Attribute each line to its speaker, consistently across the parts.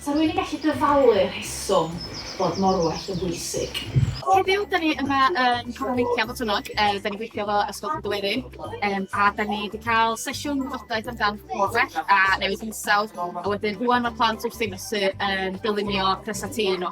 Speaker 1: Sa rwy'n yn gallu dyfalu'r rheswm bod morwell yn bwysig? Heddiw, da ni
Speaker 2: yma yn Coron Meicia fod hwnnw. Da ni'n gweithio fo Ysgol Cadwerin um, a da ni wedi cael sesiwn wybodaeth amdan morwell a newid hinsawdd a wedyn rwan mae'r plant wrth ddinos yn dylunio presatîn nhw.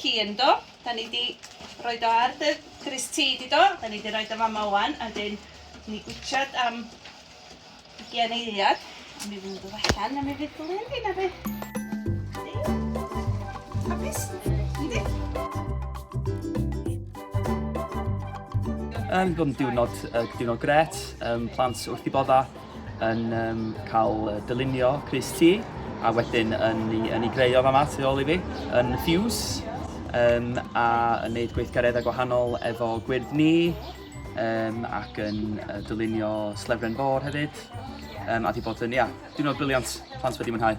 Speaker 3: hi ynddo. Da ni di roed o ar dy grys ti, di do? Da ni di roed o fama wan, a dyn ni gwitchad am ugian eiliad. A mi fydd yn dod allan, a mi fydd glyn fi na beth. Hapus?
Speaker 4: Yn bod yn diwrnod, uh, diwrnod gret, um, plant wrth i bodda, yn um, cael dylunio Chris T, a wedyn yn, yn ei greu o fama tu ôl i fi, yn Fuse, um, a yn gwneud gweithgareddau gwahanol efo gwyrdd ni, um, ac yn uh, dylunio Slefren Bor hefyd, um, a di bod yn, ia, yeah, diwrnod briliant, plant wedi mwynhau.